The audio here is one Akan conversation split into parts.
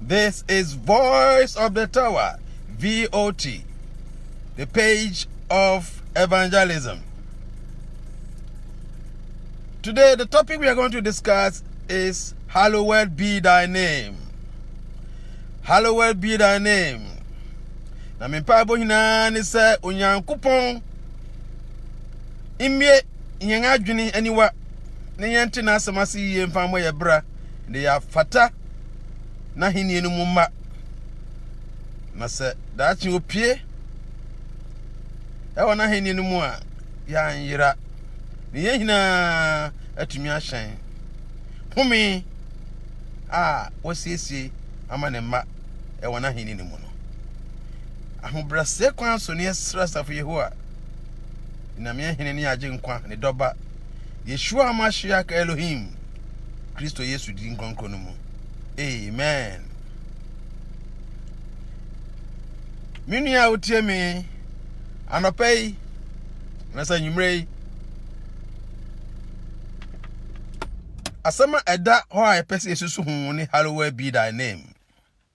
This is Voice of the Tower, VOT, the page of evangelism. Today, the topic we are going to discuss is Hallowed be thy name. Hallowed be thy name. Na me mpaebɔ nyinaa ne sɛ Onyankopɔn mmie yɛn adwene aniwa na yɛnte n'asɛm ase yie mfa mmɔ yɛn bra. na yɛafata n'ahenni no mu mma. Na sɛ daakye opue ɛwɔ n'ahenni no mu a, yɛanyera, na yɛn nyinaa atumi ahyɛn home a wasiesie ama ne mma ɛwɔ n'ahenni no mu no. Ahobrɛaseɛ kwan so ne yɛsrɛ asafo Yehowa, Nyame Hene ne Agyenkwa, ne Dɔba, Yeshua Mashiach Elohim, Kristo Yesu din kronkron no mu. Amen. Me nua a wotie me anɔpa yi na sɛ anwummerɛ yi asɛm a ɛda hɔ a yɛpɛ sɛ yɛsusu ho ne hallowed be thy name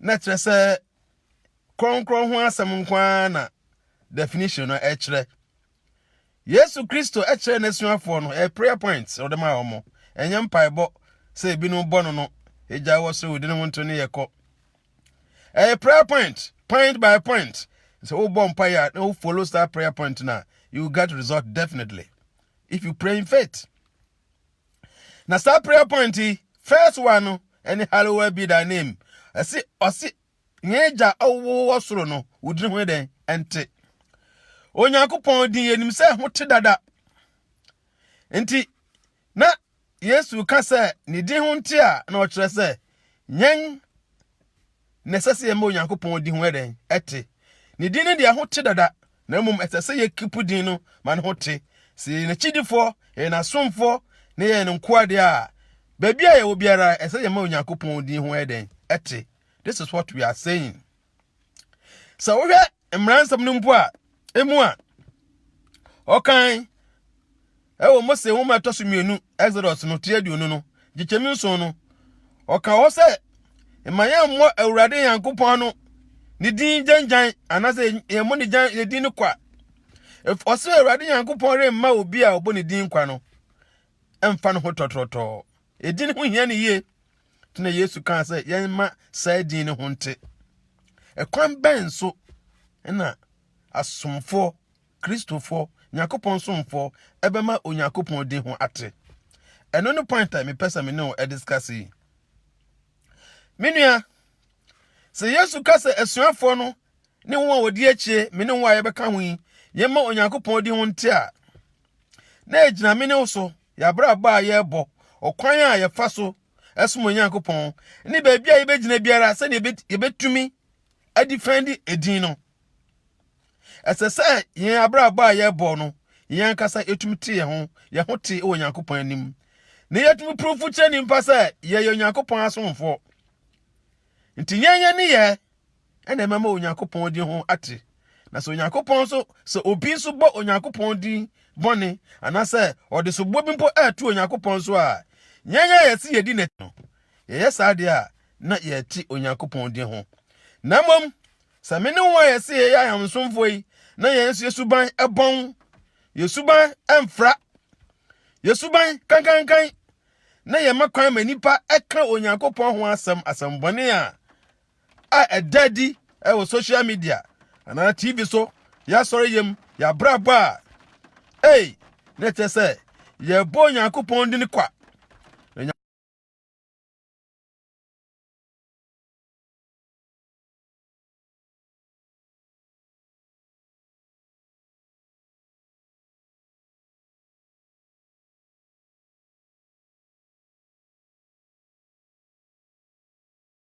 na kyerɛ sɛ kronkron ho asɛm nko ara na definition no ɛkyerɛ yesu kristo ɛkyerɛ n'asuafoɔ no ɛyɛ prayer point ɔde ma wɔn ɛnyɛ mpaebɔ sɛ ebinom bɔ no no egya wɔ soro wodi ne ho nto ne yɛ kɔ ɛyɛ prayer point point by point sɛ wobɔ mpa yɛ a na wo follow that prayer point na you get result definitely if you pray in faith na saa prayer point yi first one no ɛne hallowed be thy name ɛsi ɔsi yɛn agya ɔwɔ wɔ soro no wodini ho dɛn ɛnte onyankopɔn din yɛnim sɛ ho te dada nti na yesu ka sɛ ne din ho nte a na ɔkyerɛ sɛ yɛn na ɛsɛ sɛ yɛma Onyankopɔn din ho yɛ dɛn? Ɛte. Ne din no deɛ ho te dada, na mmom ɛsɛ sɛ yɛkipu din no ma ne ho te. Sɛ yɛyɛ n'akyidifoɔ, yɛyɛ n'asomfoɔ, na yɛyɛ ne nkoa deɛ a, baabi a yɛwɔ biara, ɛsɛ sɛ yɛma Onyankopɔn din ho yɛ dɛn? Ɛte. This is what we are saying. Sɛ wohwɛ mmara nsɛm no mpo a emu a ɔkan ɛwɔ mose nwoma ɛtɔ so mmienu exodus no ti aduonu no gyekyɛm nson no ɔka hɔ sɛ mma yɛmmɔ awurade nyankopɔn ano ne din gyangyan anaasɛ yɛmmɔ ne gyan ne din no kwa ɔsɛ awurade nyankopɔn remma obi a ɔbɔ ne din kwa no ɛmfa no ho tɔtrɔtɔɔ ɛdi ne ho hia ne yie na yesu kaa sɛ yɛmma saa din no ho nte ɛkwan bɛn so na asomfoɔ kristofoɔ nyankopɔn somfoɔ ɛbɛma onyankopɔn din ho ate ɛno no point a mepɛ sɛ me ne wo ɛdiskase yi me nua sɛ yesu ka sɛ asuafoɔ no ne wɔn a wɔdi akyire me ne wɔn a yɛbɛka ho yi yɛmma onyankopɔn din ho nte a na egyina me ne wo so, yɛabrabɔ a yɛrebɔ, ɔkwan a yɛfa so ɛsom Onyankopɔn, ne baabi a yɛbɛgyina biara sɛdeɛ yɛbɛtumi adifɛndi edin no. Ɛsɛ sɛ yɛn abrabɔ a yɛrebɔ no, yɛn ankasa yɛtumi te yɛn ho, yɛn ho te wɔ Onyankopɔn anim. Na yɛtumi purufo kyerɛ nnipa sɛ yɛyɛ Onyankopɔn asomfoɔ. Nti yɛn yɛn ne yɛ ɛna ɛmɛma onyankopɔn din ho ate na sɛ onyankopɔn nso sɛ obi nso bɔ onyankopɔn din bɔne anaasɛ ɔde soboɔ bi mpo ɛɛto onyankopɔn so a yɛn a yɛse yɛdi n'akyi no yɛyɛ saa deɛ a na yɛte onyankopɔn din ho na mmom sɛ me ne wo a yɛse yɛyɛ ayamsomfoɔ yi na yɛn nso yɛ suban ɛbɔn yɛ suban ɛmfra yɛ suban kankankan na yɛma kwan ma nnipa ɛka onyankopɔn ho asɛm asɛmbɔne a a ɛda adi wɔ social media anaa tv so yɛasɔre yam yɛabrabɔ a ei na ɛkyɛ sɛ yɛbɔ onyankopɔn din kwa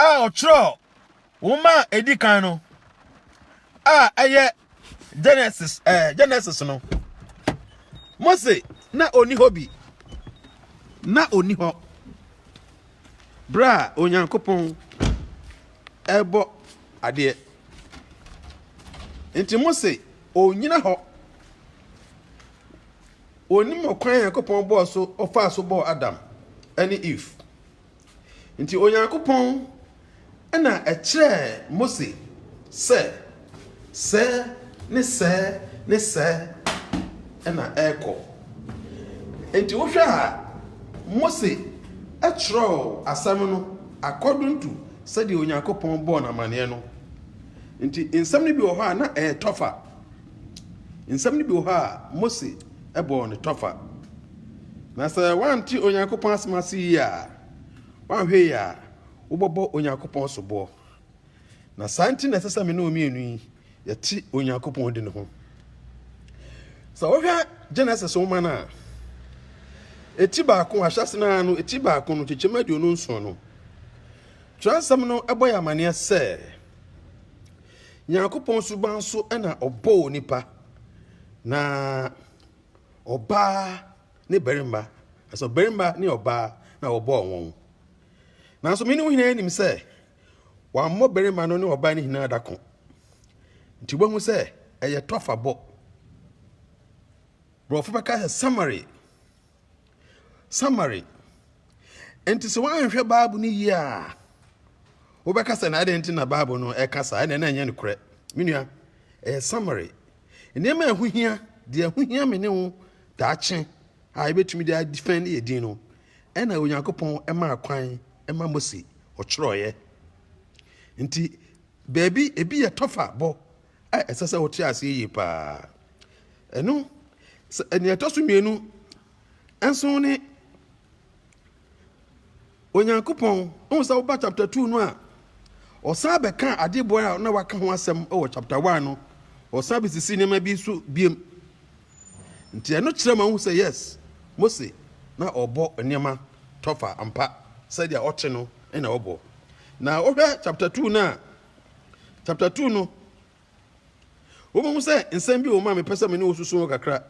a ɔtwerɛɛ nwoma a ɛdi kan no a ɛyɛ genesis ɛɛ eh, genesis no mose na ɔni hɔ bi na ɔni hɔ berɛ a onyankopɔn ɛrebɔ adeɛ nti mose ɔnyina hɔ Ɔnim ɔkwan a Nyankopɔn bɔɔ so ɔfaa so bɔɔ Adam ne Eve. Nti Onyankopɔn na ɛkyerɛɛ Mose sɛ sɛɛ ne sɛɛ ne sɛɛ na ɛrekɔ. Nti wohwɛ a Mose kyerɛw asɛm no according to sɛdeɛ Onyankopɔn bɔɔ no amaneɛ no. Nti nsɛm no bi wɔ hɔ a na ɛyɛ tougher Nsɛm no bi wɔ hɔ a, Mose bɔɔ no tɔfa. Na sɛ woante Onyankopɔn asɛm ase yie a, woanhwɛ yie a, wobɛbɔ Onyankopɔn soboɔ. Na saa nti na ɛsɛ sɛ me ne wo mmienu yi yɛte Onyankopɔn di no ho. Sɛ wohwɛ Genesis nwoma no a, eti baako ahyɛse no ara no, eti baako no, kyekyɛm aduonu nson no, Twerɛnsɛm no bɔ yɛ amanneɛ sɛ, Nyankopɔn suban so na ɔbɔɔ onipa, na ɔbaa ne barima, ɛsɛ ɔbarima ne ɔbaa na wɔbɔɔ wɔn. Nanso me ne wo nyinaa nim sɛ wammɔ barima no ne ɔbaa no nyinaa da ko. Nti wobɛhu sɛ ɛyɛ tɔfabɔ. Borɔfo bɛka sɛ summary. Summary Enti sɛ woanhwɛ Bible no yie a, wobɛka sɛ na adɛn nti na Bible no ɛka saa ɛna na ɛnyɛ nokorɛ. Me nua, ɛyɛ summary. Nneɛma a ɛho hia, deɛ ɛho hia me ne wo daakye a yɛbɛtumi de adefɛn yɛ din no, ɛna Onyankopɔn ɛmaa kwan ɛma Mose ɔtwerɛeɛ. Nti baabi ebi yɛ tɔfa bɔ a ɛsɛ sɛ wote aseɛ yie paa ɛno nea ɛtɔ so mmienu nso ne onyankopɔn wohu sɛ woba chapter 2 no a ɔsan bɛka adeboa a na waka ho asɛm wɔ chapter 1 no ɔsan bɛsisi nneɛma bi so biem nti ɛno kyerɛ ma wohu sɛ yes mose na ɔbɔ nneɛma tɔfa ampa sɛdeɛ ɔte no na ɔbɔ na wohwɛ chapter 2 no a Chapter two no, wobɛhu sɛ nsɛm bi wɔ mu a mepɛ sɛ me ne wo susu ho kakra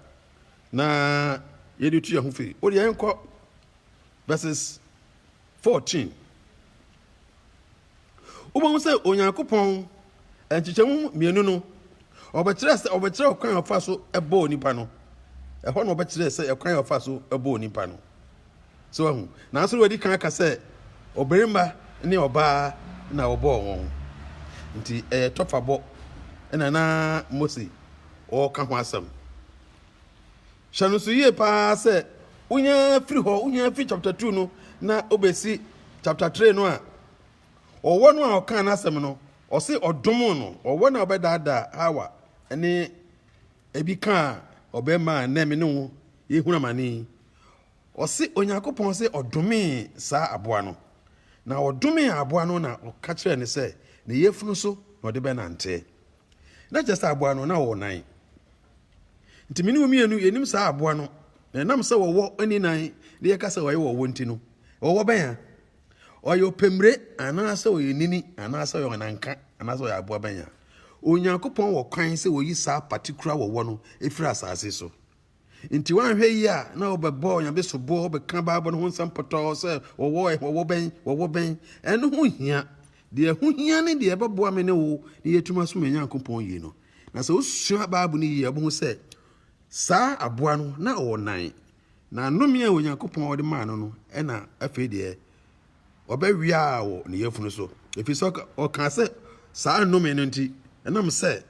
na yɛde tu yɛn ho firi. Wode yɛn nkɔ verses fourteen. Wobɛhu sɛ Onyankopɔn nkyekyɛmu mmienu no, ɔbɛkyerɛ sɛ ɔbɛkyerɛ ɔkwan a ɔfa so bɔɔ nipa no. Ɛhɔ na ɔbɛkyerɛ sɛ ɛkwan a ɔfa so bɔɔ nipa no. So wahu? Nanso na wadi kan aka sɛ ɔbarima ne ɔbaa na wɔbɔɔ wɔn. Enti ɛyɛ tɔfabɔ na na Mose ɔreka ho asɛm. Hyɛ no nso yie paa sɛ wonyaa firi hɔ, wonyaa firi chapter two no na wobɛsi chapter three no a, ɔwɔ no a ɔkaa n'asɛm no, ɔse ɔdom no, ɔwɔ no a ɔbɛdaadaa Hawa ne ebi kaa ɔbarima a nnɛ me ne wo yɛhunu amane yi. Ɔse Onyankopɔn se ɔdomee saa aboa no, na ɔdomee aboa no na ɔka kyerɛɛ no sɛ ne yafunu so na ɔde bɛnante. Na kyerɛ sɛ aboa no, na ɔwɔ nan. Nti me ne wo mmienu yɛnim saa aboa no, na ɛnam sɛ ɔwɔ nni nan na yɛka sɛ ɔyɛ ɔwɔ nti no, ɔwɔ bɛn a? Ɔyɛ ɔpɛmmire anaasɛ ɔyɛ nini anaasɛ ɔyɛ ɔnanka anaasɛ ɔyɛ aboa bɛn a? Onyankopɔn wɔ kwan sɛ ɔyi saa patikura ɔwɔ no firi asase so. Enti woanhwɛ yie a, na wobɛbɔ Onyame soboɔ, wobɛka Bible no ho nsɛm pɔtɔɔ sɛ wɔwɔ ɛhe, wɔwɔ bɛn, wɔwɔ bɛn. Ɛno ho nhia. Deɛ ɛho hia ne deɛ ɛbɛboa me ne wo na yɛatumi asom yɛn Nyankopɔn yie no. Na sɛ wosua Bible no yie a, wobɛhu sɛ saa aboa no, na ɔwɔ nan, na nnome a Onyankopɔn de maa no no, ɛna afei deɛ wɔbɛweaa wo ne yafunu so, ɛfiri sɛ ɔkaa sɛ, saa nnome no nti, ɛnam sɛ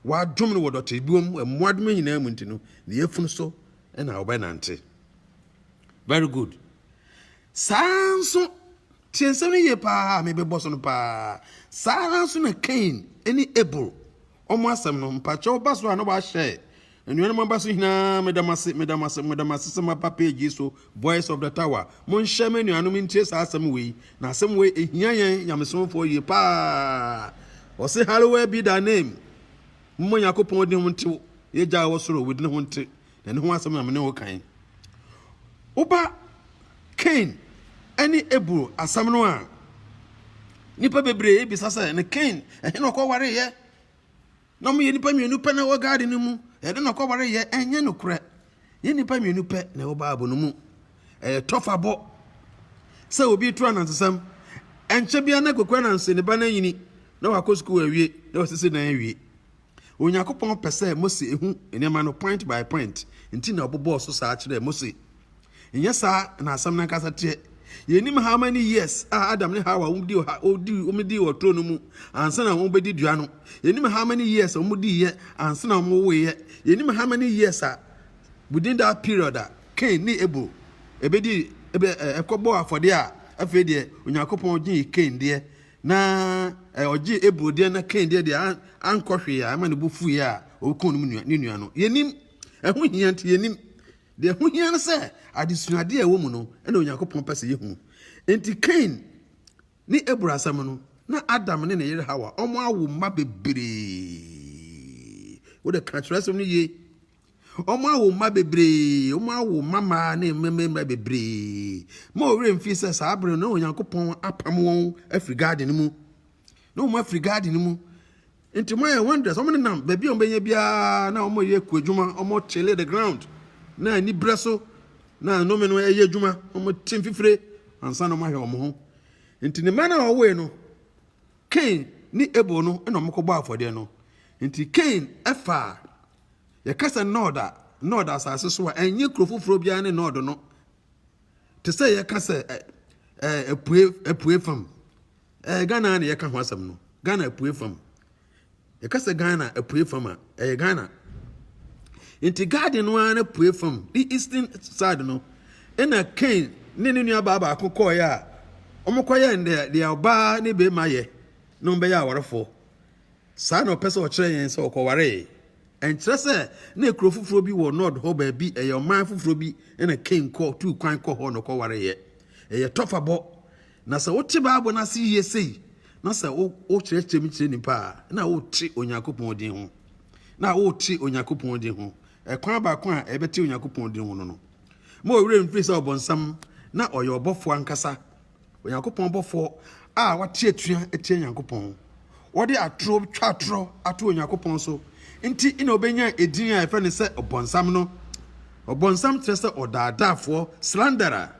wɔadom no wɔ dɔtebuo mu, mmoadoma nyinaa mu nti no, ne yafunu so na wɔbɛnante. Very good. Saa nso, tie nsɛm no yie paa a mebɛbɔ so no paa. Saa ara nso na Kain ne Abel ɔmo asɛm no mpakyɛw ba so a na wahyɛ anuanom aba so hinaa meda mo ase meda mo ase meda mo ase sɛ moaba page yi so voice of the tower monhyɛ me anuanom ntie saa asɛm wei na asɛm wei ehia yɛn nyamesomfoɔ yie paa ɔse hallowed be thy name mmɔ nyakopɔn din ho ntew yɛgya wɔ soro wo din ho nte na ɛno ho asɛm na me ne wo kan yi. Wo ba Kain ne Abel asɛm no a, nnipa bebree bisa sɛ, ne Kain, ɛhe na ɔkɔwareyɛ? Na wɔyɛ nnipa mmienu pɛ na ɛwɔ garden no mu, ɛde na ɔkɔwareyɛ, ɛnyɛ nokorɛ. Yɛ nnipa mmienu pɛ na ɛwɔ Bible no mu. Ɛyɛ tɔfabɔ sɛ obi to anansesɛm, ɛnkyɛ biara na kokoa nanse ne ba no anyini, na wakɔ sukuu awie, na wasisi dan awie. Onyankopɔn pɛ sɛ Mose hu nneɛma no point by point, nti na ɔbobɔɔ so saa kyerɛɛ Mose. Nyɛ saa na asɛm no ankasa teɛ. Yɛnnim how many years a Adam ne Hawa wɔdii wɔ turo no mu ansa na wɔbɛdi dua no. Yɛnnim how many years a wɔdiiɛ ansa na wɔwoeɛ. Yɛnnim how many years a within that period a Cain ne Abel ɛbɛdi ɛkɔbɔɔ afɔdeɛ a afei deɛ Onyankopɔn gyee Cain deɛ Na ɛ, ɔgyee Abel deɛ na Kain deɛ deɛ an, ankɔ hwee a ɛma ne bo fuiɛ a ɔkuu ne nua, ne nua no. Yɛnim. Ɛho hia nti yɛnim. Deɛ ɛho hia no sɛ adesuadeɛ a ɛwɔ mu no ɛna Onyankopɔn pɛ sɛ yɛhu. Enti Kain ne Abel asɛm no, na Adam ne ne yere Hawa, wɔawo mma bebree. Wode ka Twerɛsɛm no yie. Wɔawo mma bebree, wɔawo mmammaa ne mmarima bebree. Ma wo werɛ mfi sɛ saa bere no na Onyankopɔn apam wɔn afiri garden no mu. Na wɔn afiri garden no mu. Nti wɔayɛ wonders, wɔn nenam baabi a wɔbɛnya biara na wɔyɛ kuadwuma, wɔkyele the ground. Na anibrɛ so na nnome no ɛyɛ adwuma, wɔte mfifire ansa na wɔahwɛ wɔn ho. Nti ne mma no a wɔwoe no, Cain ne Abel no na wɔkɔbɔ afɔdeɛ no. Nti Cain ɛfaa Yɛka sɛ Nod a, Nod asase so a, ɛnyɛ kuro foforɔ biara ne Nod no. Te sɛ yɛka sɛ ɛ ɛ apue apue fam. Ɛyɛ Ghana na yɛka ho asɛm no. Ghana apue fam. Yɛka sɛ Ghana apue fam a, ɛyɛ Ghana. Nti garden no ara n'apue fam, ne eastern side no, ɛna Cain ne ne nuabaa baako kɔɔeɛ a wɔkɔyɛ deɛ deɛ ɔbaa ne bɛrima yɛ na wɔbɛyɛ awarefoɔ. Saa na ɔpɛ sɛ ɔkyerɛ yɛn sɛ ɔkɔwaree. Ɛnkyerɛ sɛ na kuro foforɔ bi wɔ Nod hɔ baabi, ɛyɛ ɔman foforɔ bi na Kain kɔ tuu kwan kɔ hɔ na ɔkɔwareeɛ. Ɛyɛ tɔfabɔ. Na sɛ wote Bible no ase yie sei na sɛ wokyerɛkyerɛ mu kyerɛ nnipa a, na worete Onyankopɔn din ho. Na worete Onyankopɔn din ho. Ɛkwan baako a ɛbɛte Onyankopɔn din ho no no, ma ɔwerɛ mfiri sɛ ɔbonsam na ɔyɛ ɔbɔfoɔ ankasa. Onyankopɔn bɔfoɔ a wate atua atia Nyankopɔn, wɔde atoro twa atorɔ ato Onyankopɔn so nti na ɔbɛnyaa edin a yɛfrɛ no sɛ Ɔbɔnsam no. Ɔbɔnsam kyerɛ sɛ ɔdaadaafoɔ, slanderer.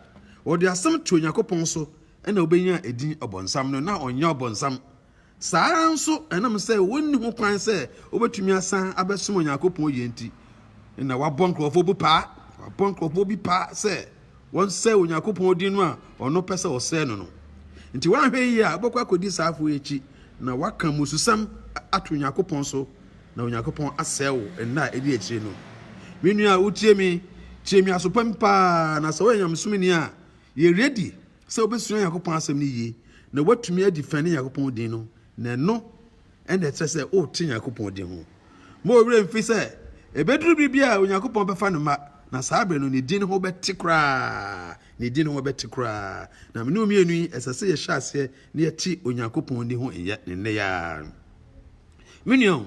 Wɔde asɛm to Onyankopɔn so na ɔbɛnyaa edin Ɔbɔnsam no, na ɔnyɛ Ɔbɔnsam. Saa ara nso, ɛnam sɛ wɔnni ho kwan sɛ wobetumi asan abɛsom Onyankopɔn yiye nti na wɔabɔ nkurɔfo bi paa, wɔabɔ nkurɔfo bi paa sɛ wɔnsɛe Onyankopɔn din no a ɔno pɛ sɛ wɔsɛe no no. Enti wɔanhwɛ yiye a, wobɛkɔ akodi saafo yi akyi na wɔaka mmususɛm ato Onyankopɔn so, na Onyankopɔn asɛe wo nna a edi akyiri no. Me nua a wutie me, tie me aso pa mu paa, na sɛ woyɛ nyamesomni a, yɛ ready sɛ wobɛsua Onyankopɔn asɛm no yie na woatumi adifɛne Onyankopɔn din no, na ɛno ɛna ɛkyerɛ sɛ wote Onyankopɔn din ho. Ma ɔwerɛ mfi sɛ ɛbɛduru bere bi a Onyankopɔn bɛfa ne mma, na saa bere no ne din ho bɛte koraa, ne din ho bɛte koraa. Na mene mmienu yi, ɛsɛ sɛ yɛhyɛ aseɛ na yɛte Onyankopɔn din ho nnɛ nnɛ yi ara. Me nua,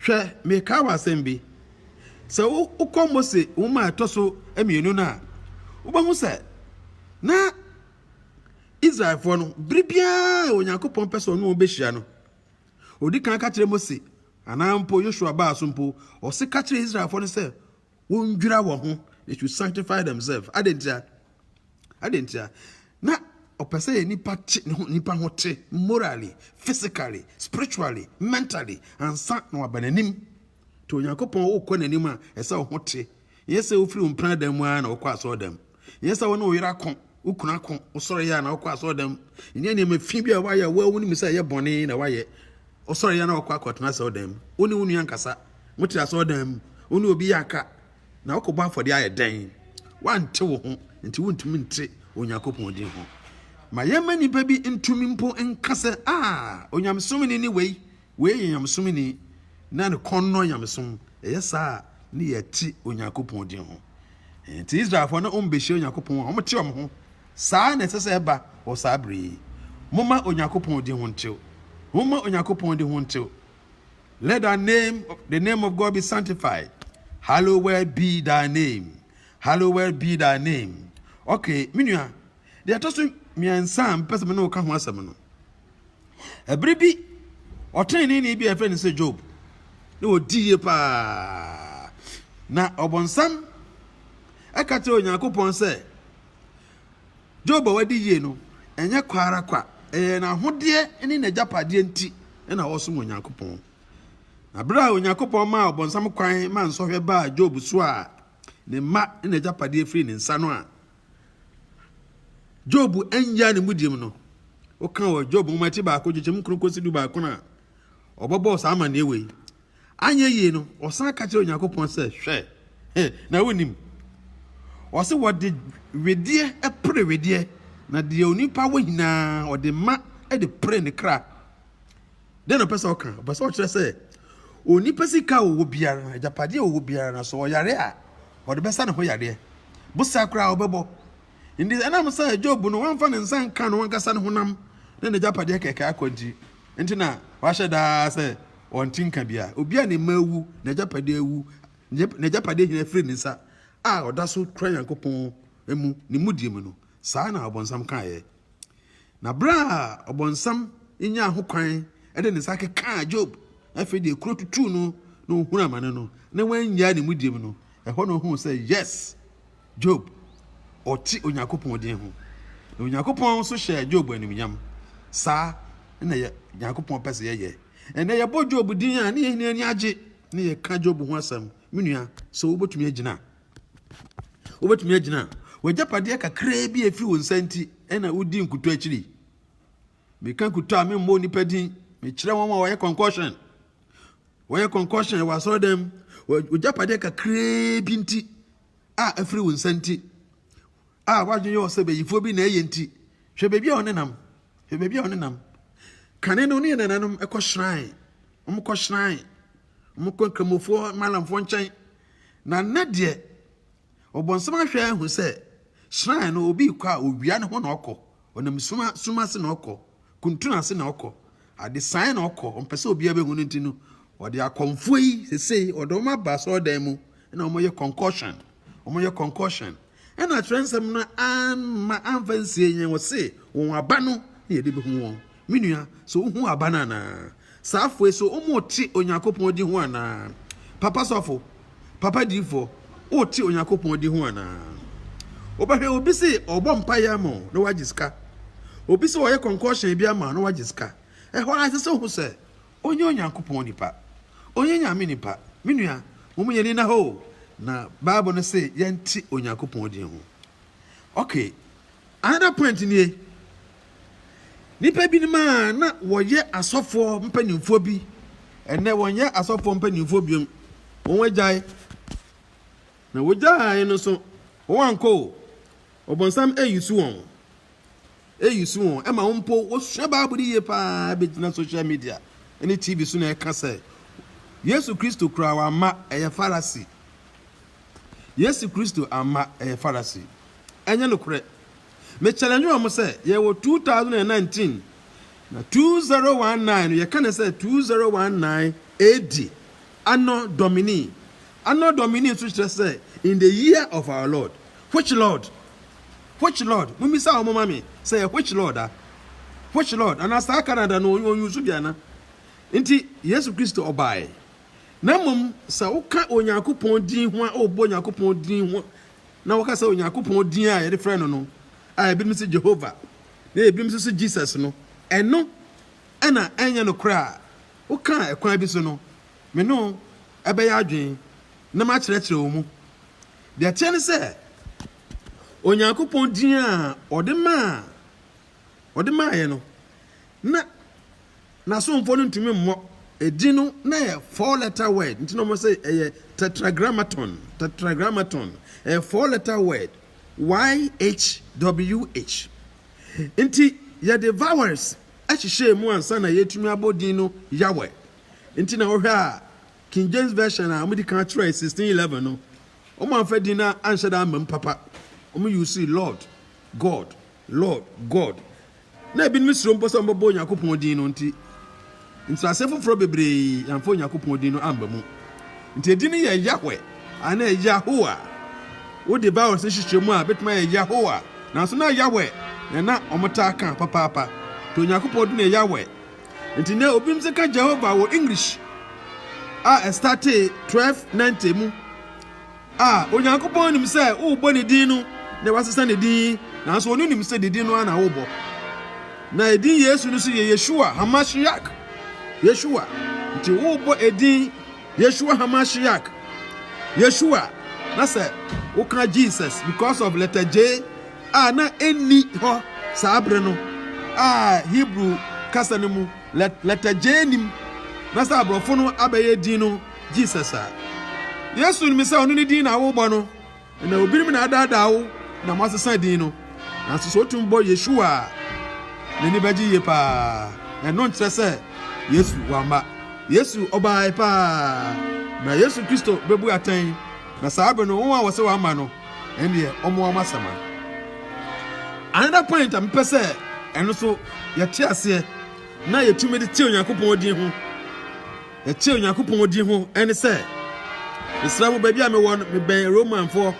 hwɛ, mekae w'asɛm bi. Sɛ wokɔ Mose nwoma a ɛtɔ so mmienu no a, wobɛhu sɛ na Israelfoɔ no, bere biara Onyankopɔn pɛ sɛ ɔne wɔn bɛhyia no, ɔdi kan ka kyerɛ Mose anaa mpo Yosua baa so mpo, ɔse ka kyerɛ Israelfoɔ no sɛ wɔndwira wɔn ho, they should sanctify themselves. Adɛn ntia? Adɛn ntia? Na ɔpɛ sɛ yɛ nipa te ne ho nipa ho te morally, physically, spiritually, mentally ansa na waba n'anim. Nti Onyankopɔn wokɔ n'anim a, ɛsɛ sɛ wo ho te. Nyɛ sɛ wofiri wo mpena dan mu ara na wokɔ asɔɔdam. Nyɛ sɛ wo ne wo yere ako, wo kunu ako, wosɔre yɛ a na wokɔ asɔɔdam. Nyɛ nneɛma fi bi a woayɛ a wo ara wonim sɛ ɛyɛ bɔne na woayɛ. Wosɔre yɛ a na wokɔ akɔtena asɔɔdam mu. Wo ne wo nua nkasa. Mote asɔɔdam mu, wo ne obi yɛ aka, na wokɔbɔ afɔdeɛ ayɛ dɛn? Woante wo ho, nti wontumi nte Onyankopɔn din ho. Ma yɛmma nnipa bi ntumi mpo nka sɛ, Ah, Onyamesom ni ne wei. Wei yɛ nyamesom ni, na ne kɔn nnɔ nyamesom. Ɛyɛ saa a, ne yɛ te Onyankopɔn din ho. Enti Israelfoɔ na wɔbɛhyia Onyankopɔn a wɔte wɔn ho. Saa na ɛsɛ sɛ ɛba wɔ saa berɛ yi. Momma Onyankopɔn din ho ntew. Momma Onyankopɔn din ho ntew. Let thy name, the name of God be sanctified. Hallowed be thy name. Hallowed be thy name. Okay, me nua, deɛ ɛtɔ so mmiɛnsa a mpɛ sɛ me ne wo ka ho asɛm no, Bere bi, ɔtreneeni bi a yɛfrɛ no sɛ Job, na ɔdi yie paa. Na ɔbonsam ɛka kyerɛ Onyankopɔn sɛ, Job a wadi yie no, ɛnyɛ kwa ara kwa, ɛyɛ n'ahodeɛ ne n'agyapadeɛ nti na ɔresom Onyankopɔn. Na bere a Onyankopɔn maa ɔbonsam kwan ma nsɔhwɛ baa Job so a ne mma ne n'agyapadeɛ firii ne nsa no a, Job annyaa ne mudim no, woka wɔ Job nwoma ti baako nkyekyɛm nkron kosi du baako no a, ɔbɛbɔɔ saa amanneɛ wei. Anyɛ yie no, ɔsan ka kyerɛ Onyankopɔn sɛ, Hwɛ, na wonim. Ɔse wɔde wedeɛ pere wedeɛ, na deɛ onipa wɔ nyinaa ɔde ma de pere ne kra. Dɛn na ɔpɛ sɛ ɔka? Ɔpɛ sɛ ɔkyerɛ sɛ onipa sika a ɔwɔ biara no, agyapadeɛ a ɔwɔ biara no, so ɔyare a ɔde bɛsa ne ho yareɛ, bosa koraa ɔbɛbɔ. Nti ɛnam sɛ Job no wamfa ne nsa nka no ankasa ne honam ne n'agyapadeɛ kɛkɛ akɔ nti, nti na wahyɛ daa sɛ ɔnte nka bia. Obi a ne mma awu, n'agyapadeɛ awu, n'agyapadeɛ nyinaa firi ne nsa a ɔda so kura Nyankopɔn mu ne mudie mu no, saa na ɔbonsam kaeɛ. Na bere a Ɔbonsam nyaa hokwan de ne nsa kekaa Job, afei deɛ kuro tutuu no na ɔhunuu amane no, na wannyae ne mudie mu no, ɛhɔ na ɔhuu sɛ, yes, Job, ɔte Onyankopɔn din ho. Na Onyankopɔn nso hyɛɛ Job animuonyam. Saa na yɛ Nyankopɔn pɛ sɛ yɛyɛ. Ɛnnɛ yɛbɔ Job din a, na yɛn nyinaa ani agye, na yɛka Job ho asɛm. Me nua, so wobɛtumi agyina? Wobɛtumi agyina a, w'agyapadeɛ kakraa bi a ɛfiri wo nsa nti na wodi nkutɔ akyiri. Meka nkutɔ a memmɔ nnipa din, mekyerɛ wɔn a wɔyɛ concussion. Wɔyɛ concussion wɔ asɔredan mu, w'agyapadeɛ kakraa bi nti a ɛfiri wo nsa nti a w'adwene yɛ ɔsɛ bayifoɔ bi na ɛyɛ nti. Hwɛ baabi a ɔnenam, hwɛ baabi a ɔnenam. Kane no ne nananom ɛkɔ shrine, wɔkɔ shrine. Wɔkɔ Nkramofoɔ, Malamfoɔ nkyɛn, na nnɛ deɛ Ɔbonsam ahwɛ ahu sɛ shrine no obi rekɔ a owia no ho na ɔkɔ, ɔnam suma sum ase na ɔkɔ, kuntun ase na ɔkɔ, adesaeɛ na ɔkɔ, ɔmpɛ sɛ obiara bɛhu no nti no, ɔde akɔmfoɔ yi sesei ɔde wɔn aba asɔredan mu na wɔyɛ concoction, wɔyɛ concoction. Ɛna twerɛnsɛm no amma amfa ansie yɛn, ɔse, Wɔn aba no na yɛde bɛhu wɔn. Me nua, so wohu aba no anaa? Saa afoe so, wote Onyankopɔn din ho anaa? Papa sɔfo, papa diyifoɔ, wote Onyankopɔn din ho anaa? Wobɛhwɛ obi se ɔrebɔ mpaeɛ ama wo na wagye sika. Obi se ɔreyɛ kɔnkɔɔhyɛn bi ama wo na wagye sika. Ɛhɔ ara ɛsɛ sɛ wohu sɛ Ɔnyɛ Onyankopɔn nipa. Ɔnyɛ Nyame nipa. Me nua, mom yɛn ani nna hɔ o, na Bible no se yɛnte Onyankopɔn din ho. Ok, another point nie, nipa binom a na wɔyɛ asɔfoɔ mpanimfoɔ bi, ɛnnɛ wɔnyɛ asɔfoɔ mpanimfoɔ biom, wɔn agyae. Na wɔgyae no nso, wɔn ankɔ o, ɔbonsam ayi so wɔn. Eyi so wɔn ma mpo wosua Bible yiye paa de gyina sohyial media ne TV so na ɛka sɛ, Yesu Kristo koraa wamma ɛyɛ Farisi. Yesu Kristo amma ɛyɛ Farisi. Ɛnyɛ nokorɛ. Me challenge wɔn sɛ, yɛwɔ 2019, na 2019 no yɛka no sɛ 2019 AD, Anno Domini. Anno Domini nso kyerɛ sɛ, in the year of our Lord. Which Lord? Which lord? Mommisa wɔn mma me sɛ ɛyɛ which lord a? Which lord? Anaa saa Canada no ɔnyusu bi ana? Nti Yesu Kristo ɔbaeɛ. Na mmom sɛ woka Onyankopɔn din ho a wobɔ Onyankopɔn din ho na woka sɛ Onyankopɔn din a yɛde frɛ no no a ebinom sɛ Jehovah na ebinom nso sɛ Jesus no ɛno ɛna ɛnyɛ no korɛ a woka a ɛkwan bi so no me no ɛbɛyɛ adwene na makyerɛkyerɛ wo mu deɛ teɛ ne sɛ Onyankopɔn din a ɔde maa ɔde maaeɛ no na n'asomfoɔ no ntumi mmɔ edin no na yɛ four letter word nti na wɔn sɛ ɛyɛ tetragrammaton tetragrammaton ɛyɛ four letter word YHWH nti yɛde vowels ɛhyehyɛ mu ansa na yɛtumi abɔ din no Yahweh nti na wɔhwɛ a King James version a wɔde kan kyerɛ sixteen eleven no Wɔamfa din no anhyɛ da ammam papa. Wɔyi wo sii Lord, God, Lord, God. Na ebinom suro mpo sɛ wɔbɛbɔ Onyankopɔn din no nti, nkyerɛase foforɔ bebree amfa Onyankopɔn din no amma mu. Nti edin no yɛ Yahweh anaa Yahowa. Wode ba ɔse hyehyɛ mu a, ɛbɛtumi ayɛ Yahowa. Nanso na Yahweh na na wɔtaa ka papaapa. Nti Onyankopɔn din yɛ Yahweh. Ntsi ndɛ obinom dze ka Jehovah wɔ English a ɛstartee twelve ninety mu a Onyankopɔn nim sɛ worobɔ ne din no na wɔasesa ne din yi, naaso ɔno nim sɛ ne din no ara na worobɔ. Na edin Yesu no so yɛ Yeshua Hamashiach, Yeshua. Ntsi worobɔ edin Yeshua Hamashiach, Yeshua, na sɛ woka Jesus because of letter J, a na enni hɔ saa bere no a Hebrew kasa no mu lɛtɛgyee nnim, na sɛ aborɔfo no abɛyɛ din no Jesus a. Yesu nim sɛ ɔno ne din na worebɔ no, na obinom na adaadaa wo na moasesa din no. Nanso sɛ otumi bɔ Yeshua a, n'ani bɛgye yiye paa. Ɛno nkyerɛ sɛ Yesu wamma. Yesu ɔbae paa. Na Yesu Kristo bebu atɛn, na saa bere no wɔn a wɔse wamma no ɛndeɛ ɔmoa m'asɛm a. Another point a mepɛ sɛ ɛno so yɛte aseɛ na yɛtumi de te Onyankopɔn din ho ɛte Onyankopɔn din ho ɛne sɛ mesrɛ mo baabi a mewɔ no mebɛn Romanfoɔ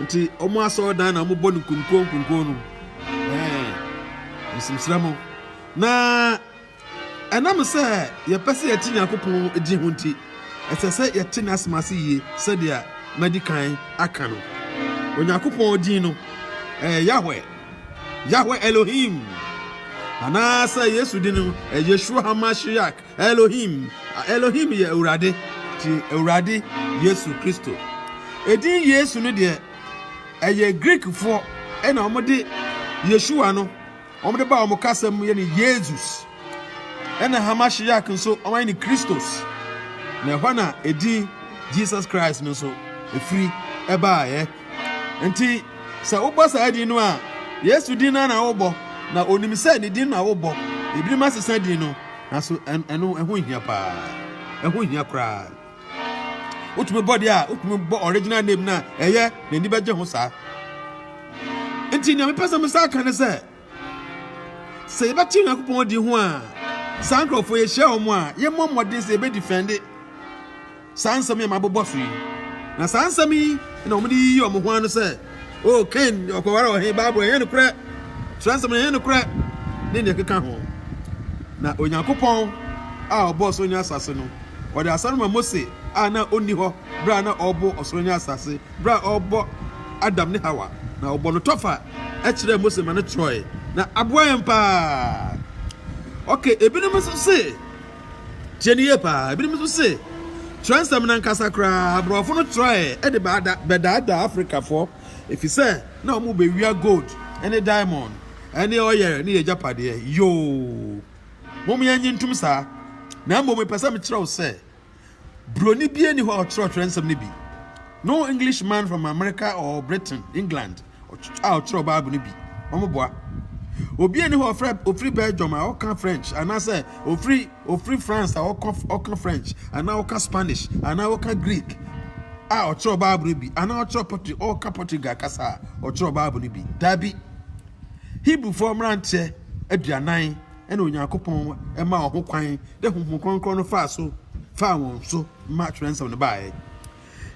nti ɔmo asɔre dan na ɔmo bɔ no nkonko nkonko no ɛɛ mesrɛ mo na Ɛnam sɛ yɛpɛ sɛ yɛte Nyankopɔn din ho nti, ɛsɛ sɛ yɛte n'asɛm ase yie sɛdeɛ madi kan aka no. Onyankopɔn din no, ɛyɛ Yahweh, Yahweh Elohim, anaasɛ Yesu din no, ɛyɛ Yeshua HaMashiach Elohim. Elohim yɛ Awurade, nti Awurade Yesu Kristo. Edin Yesu no deɛ, ɛyɛ Greekfoɔ na wɔde Yeshua no Wɔde baa wɔn kasa mu yɛ no Yezus, ɛna Hamashiak nso wɔayɛ no Kristos, na ɛhɔ na edin Jesus Christ no nso efiri baeɛ. Nti sɛ wobɔ saa din no a, Yesu din no ara na wobɔ, na onim sɛ ne din na wobɔ. Ebinom asesa din no, nanso ɛno ɛho nhia paa, ɛho hia koraa. wotumi bɔ deɛ a wotumi bɔ original name no a ɛyɛ n'ani bɛgye ho saa nti nea mepɛ sɛ mesa aka ne sɛ sɛ yɛbɛte onyankopɔn di ho a saa nkurɔfoɔ yɛhyia wɔn a yɛmmɔ mmɔden sɛ yɛbɛdi fɛnde saa nsɛm yɛ mabobɔ so yi na saa nsɛm yi na wɔde yiyi wɔn ho ano sɛ O, Kain ɔkɔwaree ɔhe? Bible ɛnyɛ nokorɛ, twerɛnsɛm no ɛnyɛ nokorɛ, ne deɛ ɛkeka ho. Na Onyankopɔn a ɔbɔɔ ɔsoro ne asase no, ɔde asɛm no ma Mose a na ɔnni hɔ berɛ a na ɔrebɔ ɔsoro ne asase, berɛ a ɔrebɔ Adam ne Hawa, na ɔbɔ no tɔfa kyerɛɛ Mose ma no twerɛɛe, na aboa yɛn paa. Ok, ebinom nso se. Tie no yie paa. Ebinom nso se, Twerɛnsɛm no ankasa koraa, aborɔfo no twerɛeɛ de bɛdaadaa Afrikafoɔ, ɛfiri sɛ na wɔbɛwia gold ne diamond ne oil ne yɛn agyapadeɛ. Yoo! Mom yɛnnye ntom saa. Na mmom mepɛ sɛ mekyerɛ wo sɛ, Buroni biara nni hɔ a ɔkyerɛw Kyerɛwnsɛm no bi. No Englishman from America or Britain, England, a ɔkyerɛw Bible no bi. Wɔboa. Obiara nni hɔ a ɔfrɛ ofiri Belgium a ɔka French anaasɛ ofiri ofiri France a ɔka ɔka French anaa ɔka Spanish anaa ɔka Greek a ɔkyerɛw Bible no bi anaa ɔkyerɛw Portu ɔka Portugal kasa a ɔkyerɛw Bible no bi. Daabi. Hebrewfoɔ mmeranteɛ aduanan na Onyankopɔn maa wɔn ho kwan dɛ Honhom Kronkron no faa so faa wɔn so ma twerɛnsɛm no baeɛ.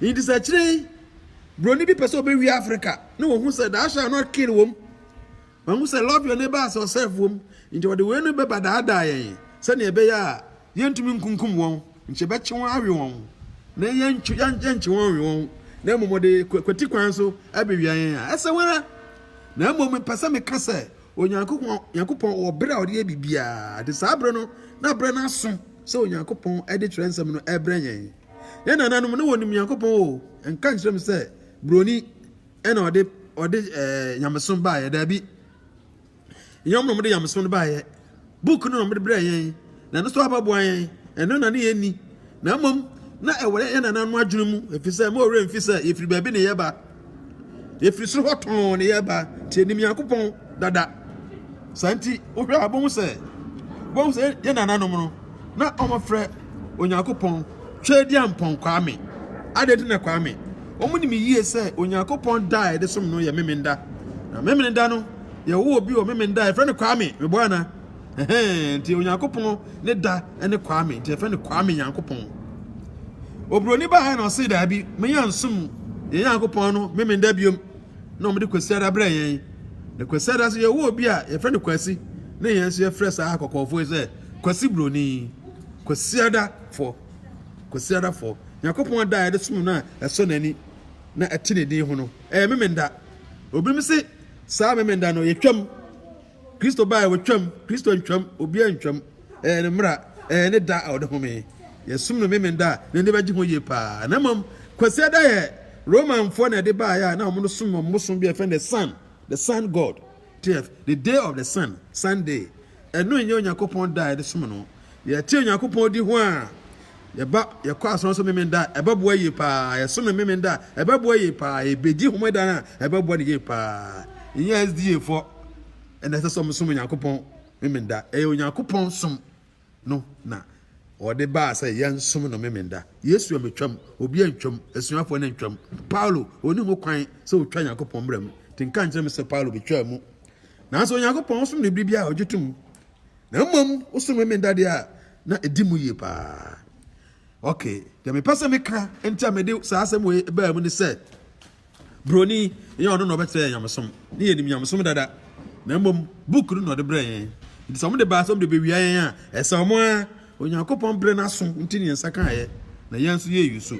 Nti sɛ akyire yi buroni bi pɛ sɛ ɔbɛwie Afrika na wɔhu sɛ thou shall not kill wom, wɔhu sɛ love your neighbor as yourself wom, nti wɔde wei no bɛba daadaa yɛn sɛdeɛ ɛbɛyɛ a yɛntumi nkunkum wɔn, nkyɛ bɛkye wɔn awe wɔn na yɛnkye wɔn nwe wɔn na mmom wɔde kwati kwan so abɛwia yɛn a ɛsɛ wɔn ara. Na mmom mepɛ sɛ meka sɛ Onyankopɔn, Nyankopɔn wɔ bere a ɔde yɛ biribiara, de saa bere no na bere no aso sɛ Onyankopɔn de twerɛnsɛm no ɛbrɛ yɛn. Yɛn nananom na wɔnim Nyankopɔn o, nka nkyerɛ me sɛ buroni ɛna ɔde ɔde ɛɛ nyamesom baayɛ, daabi. Nyɛ wɔn na wɔde nyamesom no baayɛ. Book no na wɔde brɛɛ yɛn, na ɛno nso aba boa yɛn. Ɛno na na yenni, na mmom na ɛwɔ yɛn nananom adwene mu, efisɛ ɛmma wɔn werɛ mfi sɛ yefiri baabi na yɛreba. Yefiri soro hɔ tɔnn na yɛreba, nti yenim Nyankopɔn dada. Saa nti, wohwɛ a wobehu sɛ wobehu sɛ yɛn nananom no, na wɔfrɛ Onyankopɔn Tweaduampɔn Kwame. Adɛn nti na Kwame? Wɔnim yiye sɛ Onyankopɔn da a yɛde som no yɛ Memeneda, na Memeneda no yɛwɔ obi wɔ Memenda a yɛfrɛ no Kwame. Meboa ana? Ɛhɛn, nti Onyankopɔn ne da ne Kwame, nti yɛfrɛ no Kwame Nyankopɔn. Oburoni baa na ɔsee daabi, menya nsom yɛn Nyankopɔn no Memenda biom, na wɔde Kwasiada brɛ yɛn. Na Kwasiada nso yɛwɔ obi a yɛfrɛ no Kwasi, na yɛn nso yɛfrɛ saa kɔkɔɔfoɔ yi sɛ Kwasi Buroni. Kwasiadafoɔ, Kwasiadafoɔ. Nyankopɔn da a yɛde som no a ɛsɔ n'ani na ɛte ne din ho no, ɛyɛ Memenda. Obinom se Saa Memeneda no, yɛtwam. Kristo bae, wɔtwam. Kristo ntwam, obiara ntwam. Ɛyɛ ne mmara, ɛyɛ ne da a ɔde home. Yɛsom no Memeneda a, n'ani bɛgye ho yie paa. Na mmom, Kwasiada yɛ Romanfoɔ na ɛde baeɛ a na wɔsom wɔn bosom bi a yɛfrɛ no the sun, the sun god, tf, the day of the sun, Sunday. Ɛno nyɛ Onyankopɔn da a yɛde som no. Yɛte Onyankopɔn di ho a, yɛba yɛkɔ asɔre so Memeneda a, ɛbɛboa yie paa. Yɛsom Memeneda a, ɛbɛboa yie paa. Yɛbɛdi Homeda a, ɛbɛboa no yie paa. Ɛnyɛ SDA foɔ na ɛsɛ sɛ wɔsom Onyankopɔn Memeneda. Ɛyɛ Onyankopɔn som no na ɔde baa sɛ yɛnsom no Memeneda. Yesu ammɛtwam, obi antwam, asuafoɔ no antwam. Paulo, ɔnni ho kwan sɛ ɔtwa Onyankopɔn mmara mu. Nti nka nkyerɛ me sɛ Paulo bɛtwaa mu. Nanso Onyankopɔn, wosom no bere biara a ogye tom, na mmom wosom Homeda deɛ a na edi mu yie paa. Okay, deɛ mepɛ sɛ meka nti a mede saa asɛm wei baa mu ne sɛ, Buroni, ɛnyɛ ɔno na ɔbɛkyerɛ yɛn nyamesom, ne yɛnim nyamesom dada, na mmom book no na ɔde brɛ yɛn. Nti sɛ wɔde baa sɛ wɔde bewia yɛn a, ɛsɛ wɔn ara Onyankopɔn brɛ n'aso nti ne nsa ka ɛ na yɛn nso yɛyi so.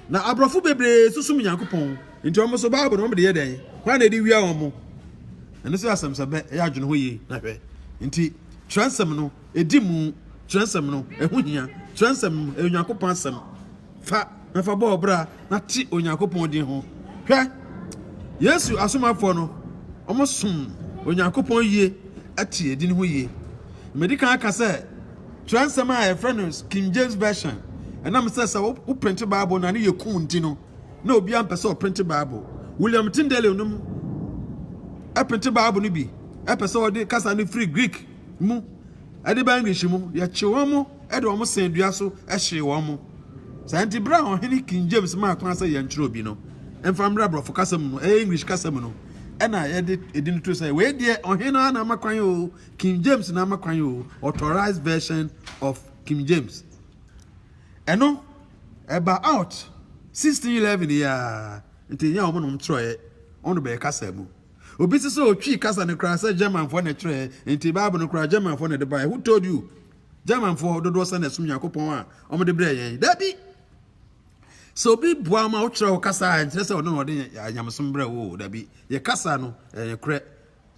Na aborɔfo bebree nso som Nyankopɔn nti wɔn nso Bible no wɔn de yɛ dɛn? Hwan na ɛde wia wɔn? Ɛno nso yɛ asɛm sɛ bɛ yɛ adwene ho yie na hwɛ. Nti twerɛnsɛm no ɛdi mu, twerɛnsɛm no ɛho hia, twerɛnsɛm no ɛyɛ Onyankopɔn asɛm. Fa na fa bɔ wo bra na te Onyankopɔn din ho. Hwɛ, Yesu asomafoɔ no, wɔsom Onyankopɔn yie te edin ho yie. Medi kan aka sɛ twerɛnsɛm a yɛfrɛ no King James Version, ɛnam sɛ sɛ woprinte Bible na ne yɛ kum nti no, na obiara mpɛ sɛ ɔprinte Bible. William Tyndale nom printe Bible no bi, ɛpɛ sɛ ɔde kasa no firi Greek mu Ɛde ba English mu, Yɛkyee wɔn, de wɔn sɛn dua so hyee wɔn. Saa nti, bere a Ɔhene King James maa kwan sɛ yɛnkyerɛ obi no mfa mmra Borɔfo kasa mu no, ɛyɛ English kasa mu no na yɛde edin too sɛ, Wei deɛ Ɔhene no ara na ama kwan oo, King James na ama kwan oo, Authorized Version of King James. Ɛno, ɛba out 1611 yi ara, nti ɛnyɛ wɔn na wɔkyerɛeɛ, wɔn na wɔbɛyɛ kasa mu. Obi se sɛ otwii kasa no koraa sɛ Germanfoɔ na ɛtwerɛɛ, enti Bible no koraa Germanfoɔ na ɛde baeɛ. Who told you? Germanfoɔ dodoɔ sɛn na ɛsom Nyankopɔn a wɔde brɛɛ yɛn? Dabi! Sɛ obi boa ma wokyerɛ wo kasa a, ɛnkyerɛ sɛ ɔno na ɔde nyamesom brɛ wo o, dabi. Yɛ kasa no, ɛyɛ nokorɛ.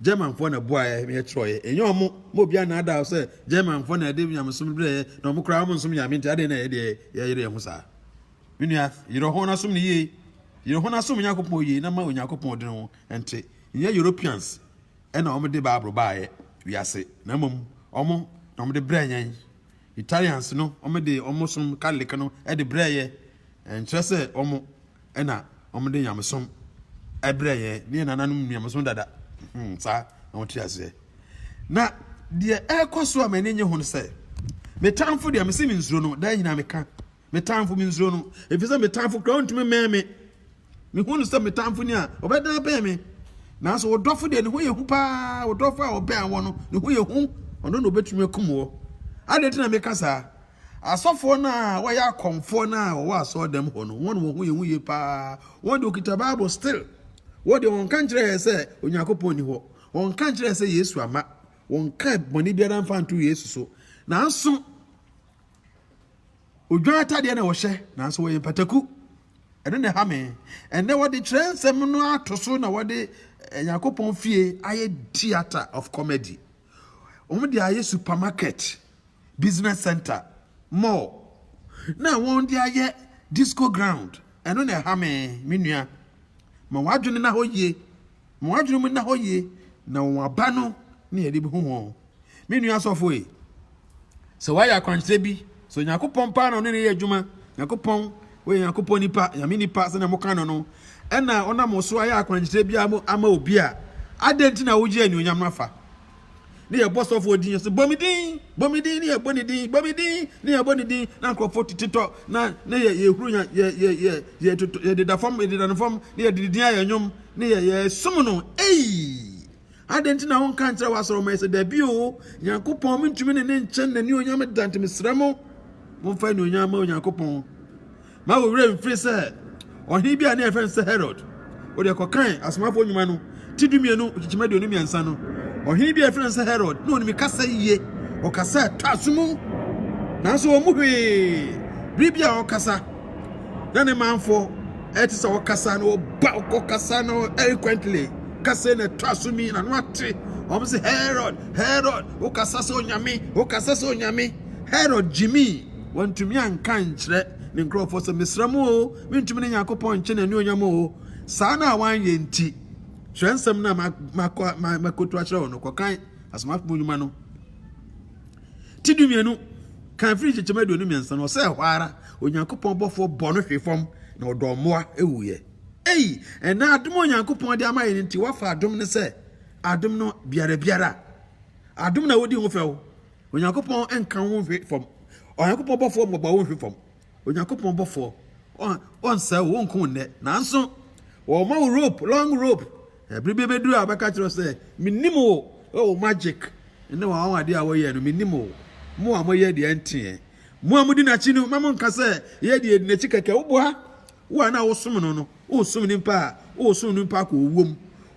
Germanfoɔ na boaeɛ ma yɛtwerɛeɛ. Ɛnyɛ wɔn. Ma obi annaadaa wo sɛ Germanfoɔ na ɛde nyamesom brɛeɛ, na wɔn koraa wɔnsom Nyame, enti adɛn na yɛn deɛ yɛyere yɛn ho saa? Me nua, yerɛ ho na som no yie. Yerɛ ho na som Onyankopɔn yie na ma Onyankopɔn de ne ho nte. Nyɛ Europeans ɛna wɔn de Bible baayɛ wiase na mmom wɔn na wɔn de brɛ yɛn. Italians no wɔn de wɔn som Catholic no ɛde brɛ yɛ. Ɛnkyerɛ sɛ wɔn ɛna wɔn de nyamesom ɛbrɛ yɛn. Ne yɛn nananom nyamesom dada. Hmm, saa na wɔn te aseɛ. Na deɛ ɛrekɔ so a m'ani nye ho no sɛ, me tamfo deɛ mese me nsuro no, daa nyinaa meka. Me tamfo, minsuro no, efisɛ me tamfo koraa ntumi mmɛn me. Mihu no sɛ me tamfo ni a, ɔbɛdan abɛn me. Nanso wo dɔfo deɛ, ne ho yɛ hu paa, wo dɔfo a ɔbɛn wo no, ne ho yɛ hu, ɔno na obetumi akum wo. Adɛn nti na meka saa? Asɔfoɔ no a wɔyɛ akɔmfoɔ no a wɔwɔ asɔɔdam hɔ no, wɔn wɔn ho yɛ hu yie paa. Wɔn deɛ wɔkita Bible still. Wɔn deɛ wɔnka nkyerɛ yɛn sɛ Onyankopɔn nni hɔ. Wɔnka nkyerɛ yɛn sɛ Yesu ama. Wɔnka bɔne biara mfa nto Yesu so. Nanso. Odwan atadeɛ na wɔhyɛ nanso wɔyɛ mpataku. Ɛno na ɛha me. Ɛnɛ wɔde kyerɛ nsɛm no ato so na wɔde eh, Nyankopɔn fie ayɛ theatre of comedy. Wɔn de ayɛ supermarket, business center, mall. Na wɔn de ayɛ disco ground. Ɛno na ɛha me, me nua. Ma w'adwene na hɔ yie. wɔn adwenem nna hɔ yie na wɔn aba no ne yɛde bɛhu wɔn me nua asɔfo yi sɛ wayɛ akwankyerɛ bi sɛ onyankopɔn paa na ɔne ne yɛ adwuma nyankopɔn wɔyɛ nyankopɔn nipa nyame nipa sɛnea moka no no ɛna ɔnam so ayɛ akwankyerɛ bi ama obi a adɛn nti na wogye anuonyam no afa ne yɛbɔ sɔfoɔ din so bɔ me din bɔ me din ne yɛbɔ ne din bɔ me din ne yɛbɔ ne din na nkurɔfoɔ tetɔ na ne yɛ yɛhuru yɛ yɛ yɛ yɛ yɛ toto yɛdeda fam yɛdeda no fam ne yɛde ne din ayɛ nnwom ne yɛ yɛsom no ei adɛn nti na wonka nkyerɛ w'asɔrɔ ma yɛ sɛ dabi o nyankopɔn mentumi ne ne nkyɛn n'ani onyam da nti mesrɛ mo momfa anuonyam ma onyankopɔn Mma wo werɛ mmfiri sɛ ɔhene bi a na wɔfrɛ no sɛ Herod, wode kɔkan Asomafoɔ Nnwuma no ti dumienu nkyekyem aduonu mmiɛnsa no, ɔhene bi a wɔfrɛ no sɛ Herod, na ɔnim kasa yie, ɔkasa a ɛtɔ aso mu, nanso wɔn mu hwee bere bi a ɔkasa na ne manfoɔ ɛte sɛ ɔkasa na ɔba ɔkɔkasa na eloquently kasa na ɛtɔ aso mi na no ate wɔn sɛ Herod, Herod, wokasa sɛ onyame, wokasa sɛ onyame, Herod gyimii. Wantumi anka ankyerɛ ne nkurɔfoɔ sɛ, Mesrɛ mo oo, mentumi ne Nyankopɔn nkye n'anuonyam oo. Saa no a wanyɛ nti, twerɛnsɛm no a makɔ makɔtu akyerɛ wo no, kɔkan Asomafoɔ mu Nnwuma no ti dumienu kan firi nkyekyɛm aduonu mmiɛnsa no, ɔsɛ ɛhɔ ara Onyankopɔn bɔfoɔ bɔ no hwe fam na ɔdɔɔ mmoa wuiɛ. Ei, ɛnɛ adom a Onyankopɔn de ama yɛn nti, woafa adom no sɛ adom no biara biara. Adom na wodi ho fɛw. Onyankopɔn nka wo nhwe fam. Onyankopɔn bɔfoɔ mmɔbɔ wo nhwe fam. Onyankopɔn bɔfoɔ ɔnsɛ wo nko nnɛ nanso wɔma wo rope long rope ɛbere bi bɛduru a bɛka kyerɛ sɛ menim wo ɛwɔ magic ne wɔn awadeɛ a wɔyɛ no menim wo mo a moyɛ deɛ nteɛ mo a modi n'akyi no ma monka sɛ yɛ deɛ di n'akyi kɛkɛ woboa wo a na wosom no no wosom nipa a wosom nipa kɔ owuo mu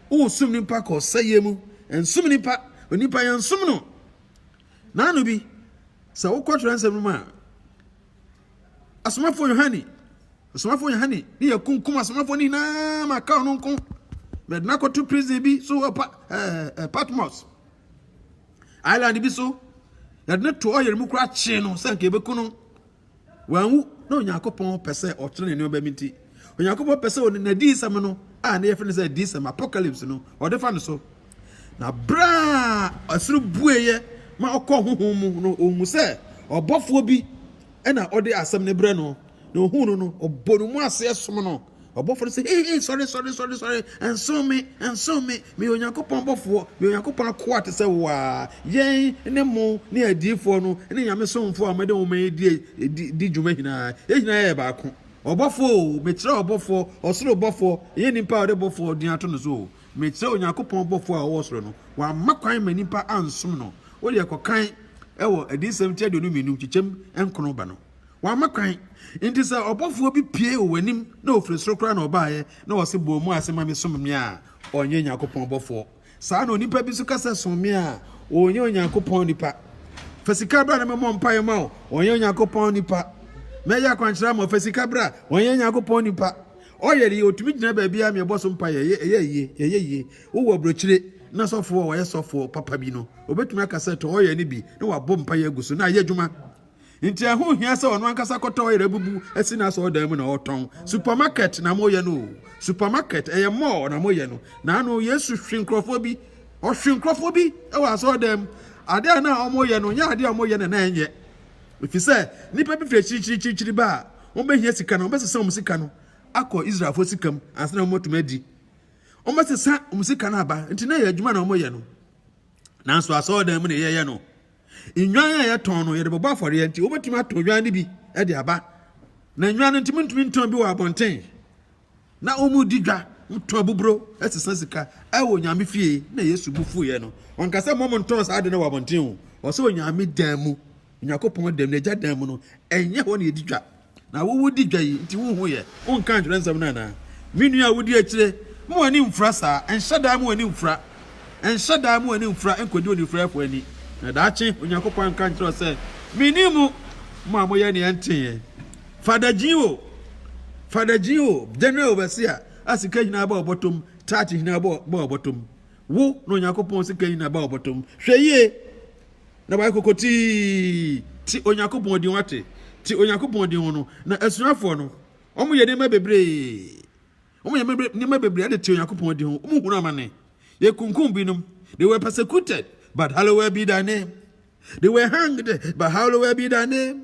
wosom nipa kɔ ɔsɛeɛ mu nsom nipa onipa yɛnsom no N'ano bi, sɛ wokɔ twerɛnsɛm no mu a, asomafoɔ Yohane, asomafoɔ Yohane ne yɛ kunkum asomafoɔ no nyinaa ma ka ɔno nko. Bɛde no akɔto prison bi so wɔ pa, eh, eh, Patmos. Island bi so, yɛde no to ɔyere mu koraa kyee no sɛ nka yɛbɛku no. Wanwu na Onyankopɔn pɛ sɛ ɔkyerɛ ne nneɛma bi nti, Onyankopɔn pɛ sɛ ɔde n'adiyisɛm no a ne yɛfrɛ no sɛ adiyisɛm apocalypse no ɔde fa no so. Na bere a ɛsoro bueeɛ ma ɔkɔ honhom mu no, ɔhu sɛ ɔbɔfoɔ bi na ɔde asɛm no brɛ no, na ɔhu no no, ɔbɔ ne mu aseɛ som no. Ɔbɔfoɔ no se, Hei, hei, sɔre, sɔre, sɔre, sɔre, nso me, nso me, meyɛ Onyankopɔn bɔfoɔ, meyɛ Onyankopɔn akoa te sɛ wo ara, yɛn ne mo ne adiyifoɔ no ne Nyame somfoɔ a mode nwoma yi di, di, di dwuma nyinaa, yɛn nyinaa yɛ baako. Ɔbɔfoɔ o, mekyerɛ ɔbɔfoɔ, ɔsoro bɔfoɔ, ɛnyɛ nipa a ɔde bɔfoɔ din ato no so o, mekyerɛ Onyankopɔn bɔfoɔ a ɔwɔ soro no, wamma kwan ma nipa ansom no, wodeɛ kɔkan wɔ Adiyisɛm ti aduonu mmienu nkyekyɛm nkron ba no. Wamma kwan. Enti sɛ ɔbɔfoɔ bi pue wɔ w'anim na ɔfiri soro koraa na ɔbaeɛ na ɔse, 'Bɔ wo mu ase ma me, som me' a, ɔnyɛ Onyankopɔn bɔfoɔ. Saa ara na onipa bi nso ka sɛ, 'Som me' a, ɔnyɛ Onyankopɔn nipa. Fa sika bra na memmɔ mpaeɛ mma wo, ɔnyɛ Onyankopɔn nipa. Mɛyɛ akwankyerɛ ama wo, fa sika bra, ɔnyɛ Onyankopɔn nipa. Ɔyɛ deɛ ɔtumi gyina baabiara ma yɛbɔ so mpaeɛ, ɛyɛ yie, ɛyɛ yie. Wowɔ aburokyire na sɔfoɔ a ɔyɛ sɔfoɔ papa bi no, ɔbɛtumi aka sɛ, 'Tɔ ɔyɛ no bi na wabɔ mpaeɛ agu so na ayɛ adwuma. Nti ɛho hia sɛ ɔno ankasa kɔtɔ ɔyere abubu asi n'asɔɔdan mu na ɔtɔn. Supermarket na moyɛ no o. Supermarket ɛyɛ mall na moyɛ no. Na ano Yesu hwe nkurɔfoɔ bi. Ɔhwe nkurɔfoɔ bi wɔ asɔɔdan mu. Adeɛ a na wɔyɛ no nyɛ adeɛ a wɔyɛ na na ɛnyɛ. Ɛfiri sɛ nnipa bi firi akyirikyirikyirikyiri ba a wɔbɛhia sika no wɔbɛsesa wɔn sika no akɔ Israelfoɔ sika mu ansa na wɔatumi adi. Wɔbɛsesa wɔn sika no aba. Nti na ɛyɛ adwuma na wɔyɛ no. nanso asɔredan mu na yɛyɛ no. Nnwan a yɛtɔn no, yɛde bɛbɔ afɔreɛ nti, wobɛtumi atɔ nnwan no bi de aba. Na nnwan no nti, montumi ntɔn bi wɔ abɔnten. Na wɔredi dwa, wotɔn boburo sesa sika wɔ Onyame fie. Na Yesu bo fuiɛ no, ɔnka sɛ mommɔ montɔn saa ade no wɔ abɔnten o, ɔsɛ Onyame dan mu. Onyankopɔn dɛm, N'agya dɛm mu no, ɛnyɛ hɔ na yɛdi dwa. Na wo wodi dwa yi nti wonhu yɛ? Wonka ntwerɛnsɛm no anaa? Me nua a wodi akyire, ma w'ani mfura saa, ɛnhyɛ da ma w'ani mfura, ɛnhyɛ da ma w'ani mfura nkɔdi onifuraeɛfoɔ ani, na daakye Onyankopɔn anka nkyerɛ wo sɛ, Menni mo, mo a moyɛ nea ɛnteɛ. Fada Gyin o, Fada Gyin o, General Overseer a sika nyinaa ba ɔbɔtom, Taakye nyinaa ba ɔbɔtom, wo na Onyankopɔn sika nyinaa ba ɔbɔtom, hwɛ yie. na wayɛ kokotii. Te Onyankopɔn din, wate? Te Onyankopɔn din no. Na asuafoɔ no, wɔyɛ nneɛma bebree. Wɔyɛ nneɛma bebree de te Onyankopɔn din ho. Wɔhunu amane. Yɛkunkum binom. They were persecuted, but hallowed be thy name. They were hanged, but hallowed be thy name.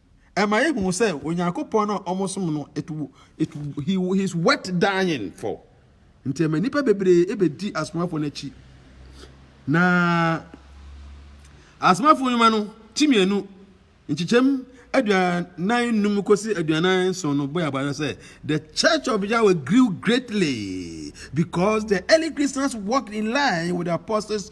ɛma yɛhu sɛ Onyankopɔn no a wɔsom no, it, it, he, he's worth dying for. Nti ɛma nnipa bebree bɛdi asomafoɔ no akyi. Na asomafoɔ nnwuma no ti mmienu nkyekyɛm aduanan num kɔsi aduanan nson no bɔ yɛabara sɛ the church of Yahweh grew greatly because the early Christians walked in line with the apostles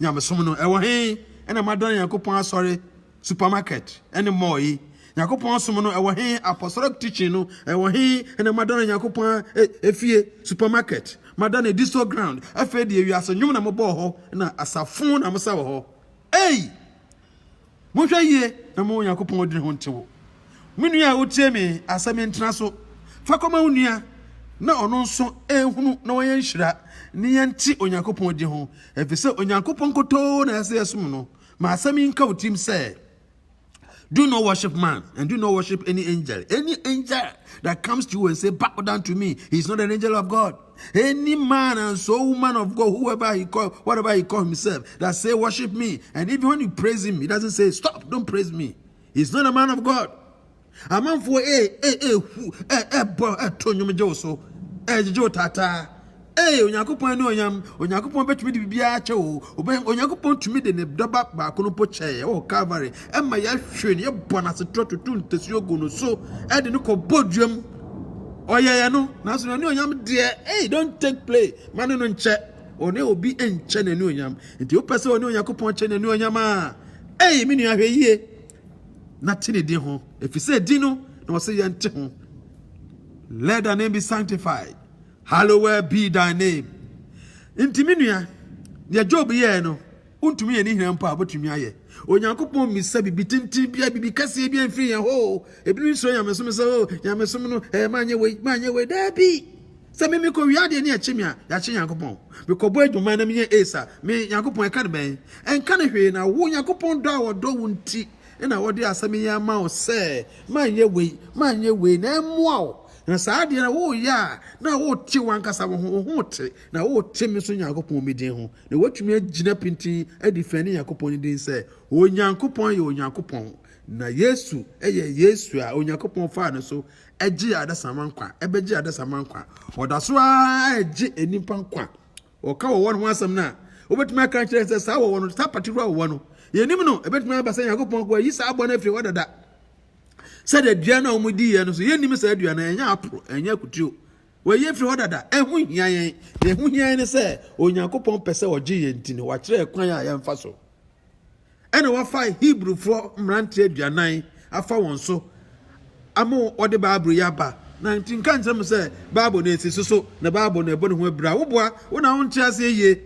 Nyamesom no, ɛwɔ he na moadane Nyankopɔn asɔre, supermarket, ne mall yi? Nyankopɔn som no, ɛwɔ he? Apostolic teaching no, ɛwɔ he na moadane Nyankopɔn efie, supermarket, moadane disco ground, afei deɛ wiase nnwom na mobɔ wɔ hɔ na asafo na mosa wɔ hɔ? Ei! Monhwɛ yie na momma Onyankopɔn adwene ho nte wo. Me nua a wotie me asɛm yi ntena so. Fa kɔma wo nua na ɔno nso nhunu na wanyɛ nhyira ne yɛnte Onyankopɔn din ho efisɛ Onyankopɔn nkotoo na ɛsɛ yɛsom no. Ma asɛm yi nka wo tirim sɛ, Do not worship man and do not worship any angel. Any angel that comes to you and say bow down to me, he is not an angel of God. Any man and so woman of God, whoever he call, whatever he call himself, that say worship me, and even when you praise him, he doesn't say stop, don't praise me. He's not a man of God. amanfoɔ ɛhu ɛbɔ ɛto nnwom gye wo so ɛgyegye wo taataa ee onyankopɔn ne onyam onyankopɔn bɛtumi de biribiara kyɛ wo onyankopɔn tumi de ne dɔba baako no po kyɛɛ wɔ calvary ɛma yɛahwere no yɛbɔ no asetorɔ tutu ntasuo gu no so ɛde no kɔ bɔ duam ɔyɛyɛ no nanso n'anuonyam deɛ ei don't take play ma ne no nkyɛ ɔne obi nkyɛ n'anuonyam nti wopɛ sɛ ɔne onyankopɔn kyɛ n'anuonyam a ei me nua hwɛ yie na te ne din ho ɛfiri sɛ din no na ɔsɛ yɛnte ho let thy name be sanctified hallowed be thy name nti me nua deɛ job yɛɛ no Wontumi yɛ ne nyinaa mpo a, wobɛtumi ayɛ. Onyankopɔn mmisa biribi tenten biara, biribi kɛseɛ biara mfiri yɛn hɔ o. Ebinom suro nyamesom sɛ o, nyamesom no, ɛɛ manyɛ wei, manyɛ wei. Daabi! Sɛ me mekɔwia adeɛ ne ɛkye me a, yɛakye Nyankopɔn. Mekɔbɔ adwuma na menya ace a, me Nyankopɔn ɛka no bɛn? Ɛnka no hwee, na wo Nyankopɔn dɔ a ɔdɔ wo nti na ɔde asɛm yi ama wo sɛ manyɛ wei, manyɛ wei na ɛmmoa wo. Na saa adeɛ no woyɛ a, na wote w'ankasa wo ho, wo ho te, na wote me nso Nyankopɔn me din ho. Na wɔatumi agyina pintinn adi fɛre ne Nyankopɔn no din sɛ, Onyankopɔn yɛ Onyankopɔn, na Yesu yɛ Yesu a Onyankopɔn faa no so gyee adesamma nkwa, bɛgyee adesamma nkwa. Wɔda so ara regye nnipa nkwa. Wɔka wɔwɔ no ho asɛm no a, wobɛtumi aka akyerɛ sɛ saa wɔwɔ no, saa paterewa wɔwɔ no, yɛnim no, ɛbɛtumi aba sɛ Nyankopɔn kɔ ayi saa abɔ no afiri hɔ dada. Sɛdeɛ aduan no a wɔdiiɛ no nso, yɛnnim saa aduan no, ɛnyɛ aporo, ɛnyɛ akutuo. Wɔayi afiri hɔ dada. Ɛho hia yɛn. Deɛ ɛho hia yɛn ne sɛ Onyankopɔn pɛ sɛ ɔgye yɛn nti no, wakyerɛ kwan a yɛmfa so. Ɛna wafa Hebrifoɔ mmeranteɛ aduanan afa wɔn so ama wɔde Bible yi aba. Na nti nka nkyerɛ mo sɛ Bible no ɛsi so so na Bible no ɛbɔ ne ho abira. Woboa, wo na wonte aseɛ yie.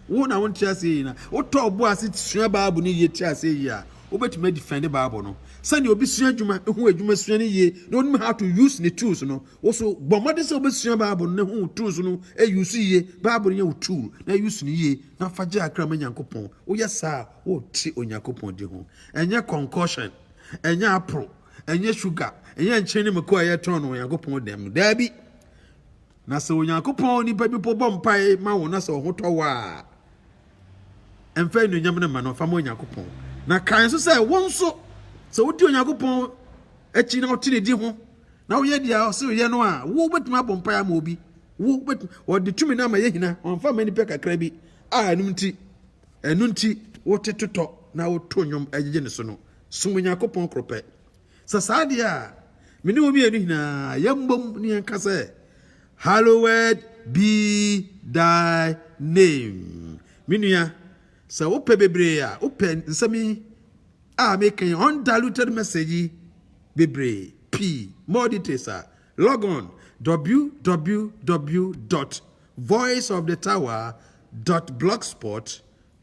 Wo na wonte aseɛ yie na wotɔ ɔbo ase sua Bible no yie te aseɛ yie a wobɛtumi adifɛnde Bible no. Sɛdeɛ obi sua adwuma, ɛho adwuma sua no yie na onim how to use ne tools no, Wo nso, bɔ mmɔden sɛ wobɛsua Bible no na hu wo tools no use yie. Bible no yɛ wo tool na use no yie na fa gye akra ma Nyankopɔn. Woyɛ saa a, worete Onyankopɔn din ho. Ɛnyɛ concoction, ɛnyɛ apple, ɛnyɛ sugar, ɛnyɛ nkyene ne mako a yɛtɔn no Onyankopɔn dɛm no. Daabi. Na sɛ Onyankopɔn nipa bi po bɔ mpae ma wo na sɛ ɔho tɔ wo a, ɛmfa anuonyam no ma no, fa ma Onyankopɔn. Na kae nso sɛ wo nso, sɛ wodi Onyankopɔn akyi na wote ne din ho na woyɛ deɛ ɔse woyɛ no a wobɛtumi abɔ mpae ama obi wobɛtumi wɔde tumi no ama yɛ hina wɔmfa ma nipa kakra bi a ɛno nti ɛno nti wote totɔ na woto nnwom agyegye ne so no som onyankopɔn koro pɛ sɛ saa deɛ a me ne wo mmienu nyinaa yɛmmom ne yɛnka sɛ hallowed be thy name me nua sɛ wopɛ bebree a wopɛ nsɛm yi a mekan undiluted message yi bebree pii more details a log on www dot voice of the tower dot blogspot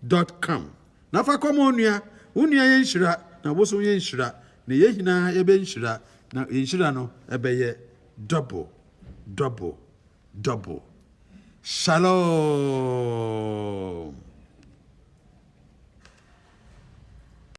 dot com na fa kɔma onua wo nua yɛ nhyira na wo so yɛ nhyira na yɛ nyinaa yɛbɛ nhyira na yɛ nhyira no ɛbɛyɛ double double double shalom.